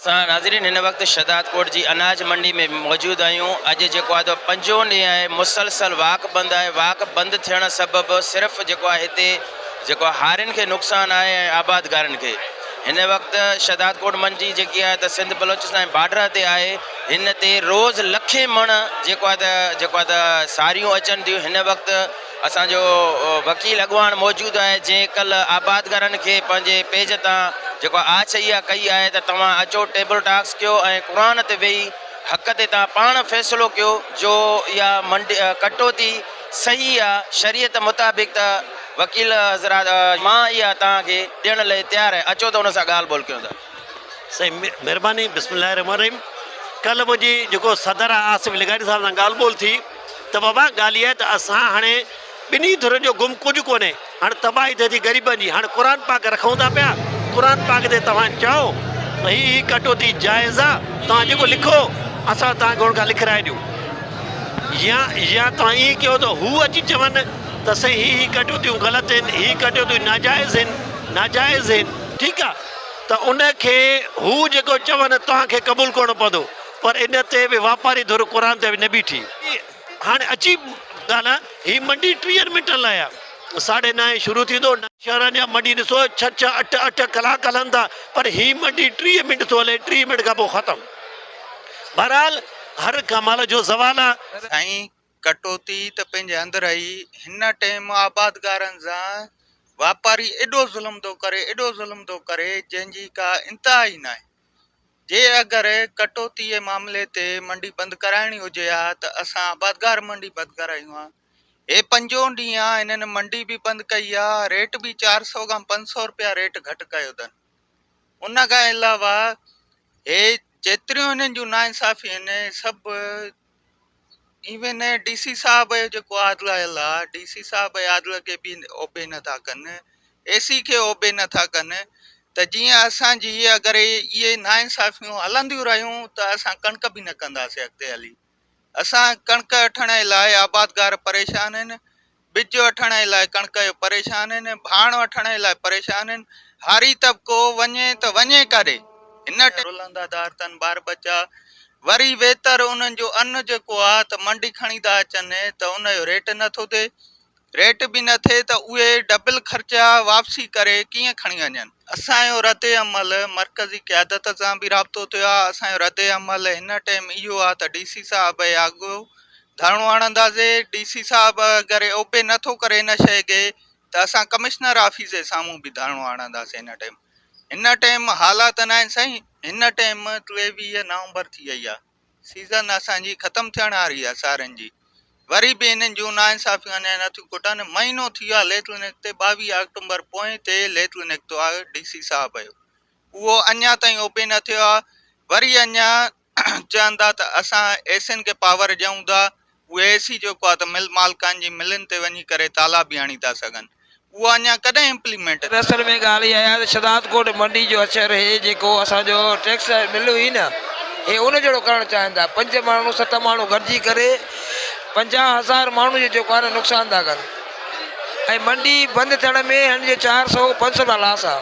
سان ناظرين هن وقت شهدادڪوٽ جي اناج منڊي ۾ موجود آهيون اڄ جيڪو آهي تو پنجون ڏينهن آهي مسلسل واڪ بند آهي واڪ بند ٿيڻ سبب صرف جيڪو آهي هتي جيڪو هارين کي نقصان آهي ۽ آبادگارن کي هن وقت شهدادڪوٽ منڊي جيڪي آهي ته سنڌ بلوچستان بارڊر تي آهي هن تي روز لکين مڻ جيڪو آهي ته جيڪو آهي ته ساريون اچن ٿيون هن وقت اسان جو وڪيل اڳواڻ موجود آهي جنهن ڪلهه آبادگارن کي پنهنجي پيج تان جيڪو آڇ اها ڪئي آهي ته توهان اچو ٽيبل ٽاڪس ڪيو ۽ قرآن تي ويهي حق تي تان پاڻ فيصلو ڪيو جو اها منڊي ڪٽوتي صحيح آ شريعت مطابق ته وڪيل حضرات مان اها توهان کي ڏيڻ لئي تيار آهي اچو ته ان سان ڳالهه ٻولهه ڪيون ته سائين مھرباني بسم الله الرحمن الرحيم ڪلھ منھنجي جيڪو صدر آصف لغاري صاحب سان ڳالھ ٻولھ ٿي ته بابا ڳالھ اها آهي ته اسان هاڻي ٻنهي ڌرين جو گم ڪجهه ڪونهي هاڻي تباهي ٿئي ٿي غريبن جي هاڻي قرآن پاڪ رکون ٿا پيا قرآن پاڪ تي توهان چئو ته هي هي ڪٽوتي جائز آ توهان جيڪو لکو اسان توهان کي هن کان لکرائي ڏيون يا يا توهان ائين ڪيو ته هو اچي چون ته سائين هي هي ڪٽوتيون غلط آهن هي ڪٽوتيون ناجائز آهن ناجائز آهن ٺيڪ آ ته ان کي هو جيڪو چون توهان کي قبول ڪرڻو پوندو پر ان تي به واپاري ڌر قرآن تي نه بيٺي. هاڻي عجيب ڳالهه هي منڊي ٽيهن منٽن لاء آ ساڍي نائين شروع ٿيندو. شهرن جا منڊي ڏسو ڇهه ڇهه اٺ اٺ ڪلاڪ هلن ٿا پر هي منڊي ٽيهه منٽ ٿو هلي ٽيهه منٽ کان پوء ختم بهرحال هر ڪمال جو زوال آ. سائين ڪٽوتي ته پنهنجي اندر اهي هن ٽئيم آبادگارن سان واپاري ايڏو ظلم ٿو ڪري ايڏو ظلم ٿو ڪري جنهن جي ڪا انتها ئي ناهي جي اگر ڪٽوتي جي معاملي تي منڊي بند ڪرائڻي هجي ها ته اسان آبادگار منڊي بند ڪرايون ها هي پنجون ڏينهن آ هنن منڊي به بند ڪئي آ ريٽ به چار سؤ کان پنج سؤ روپيا ريٽ گهٽ ڪيو اٿن ان کان علاوه هي جيتريون هنن جون ناانصافيون آهن سڀ ايوين ڊي سي صاحب جيڪو عادل آيل آ ڊي سي صاحب عادل کي بي اوبي نٿا ڪن اي سي کي اوبي نٿا ڪن ته جيئن اسان جي اگر اهي نا انصافيون هلنديون رهيون ته اسان ڪڻڪ به نه ڪنداسي اڳتي هلي اسان ڪڻڪ اٺڻ لاء آبادگار پريشان آهن ٻج وٺڻ جي لاء ڪڻڪ جو پريشان آهن ۽ ڀاڻ وٺڻ جي لاء پريشان آهن. هاري طبقو وڃي ته وڃي ڪاڏي؟ هن ٽيم. رلندا ڌار ٿن ٻار ٻچا. وري ويتر انهن جو ان جيڪو آ ته منڊي کڻي ٿا اچن ته ان جو ريٽ نه ٿو ٿئي. ريٽ به نه ٿئي ته اهي ڊبل خرچا واپسي ڪري ڪيئن کڻي وڃن. اسان جو رد عمل مرڪزي قيادت سان به رابطو ٿيو آ. اسان جو رد عمل هن ٽيم اهو آ ته ڊي سي صاحب جي آڳو ڌرڻو هڻنداسي، ڊي سي صاحب اگر اوپي نه ٿو ڪري ان شئي کي ته اسان ڪمشنر آفيس جي سامهون به ڌرڻو هڻنداسي هن ٽيم هن ٽيم حالات ناهن سائين هن ٽيم ٽيويهه نومبر ٿي وئي آهي سيزن اسان جي ختم ٿيڻ واري آهي سارن جي وري به هنن جون ناانصافيون اڃا نٿيون کٽن مهينو ٿي ويو آهي ليٽر نڪتي ٻاويهه آڪٽومبر پوئين تي ليٽر نڪتو آهي ڊي سي صاحب جو اهو اڃا تائين اوپي نه ٿيو آهي وري اڃا چوندا ته اسان اي سين کي پاور ڏيون ٿا اهي اي سي جيڪو آهي ته مل مالڪان جي ملن تي وڃي ڪري تالا به هڻي ٿا سگهن اهو اڃا ڪڏهن امپليمينٽ ٿيندو. اصل ۾ ڳالهه اها آهي ته شهداد ڪوٽ منڊي جو اچر هي جيڪو اسان جو ٽيڪس مل هئي نه هي ان جهڙو ڪرڻ چاهين ٿا پنج ماڻهو ست ماڻهو گڏجي ڪري پنجاهه هزار ماڻهو جو جيڪو آهي نه نقصان ٿا ڪن ۽ منڊي بند ٿيڻ ۾ هن جو چار سئو پنج سئو رپيا لاس آهي.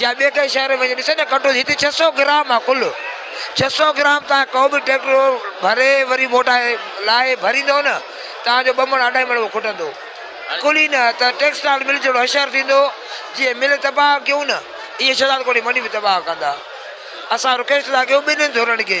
يا ٻئي ڪنهن شهر ۾ وڃي ڏسي ته ڪٽو ٿي هتي ڇهه سؤ گرام آهي ڪل ڇهه سؤ گرام تان ڪو به ٽريڪٽر ڀري وري موٽائي لاهي ڀريندو نه تان جو ٻه مڻ اڍائي مڻ اهو کٽندو ڪل ئي نه ته ٽيڪسٽائل مل جهڙو حشر ٿيندو جيئن مل تباهه ڪيون نه ايئن شهزادڪوٽ جي منڊي به تباهه ڪندا اسان رڪويسٽ ٿا ڪيون ٻنهي ڌرن کي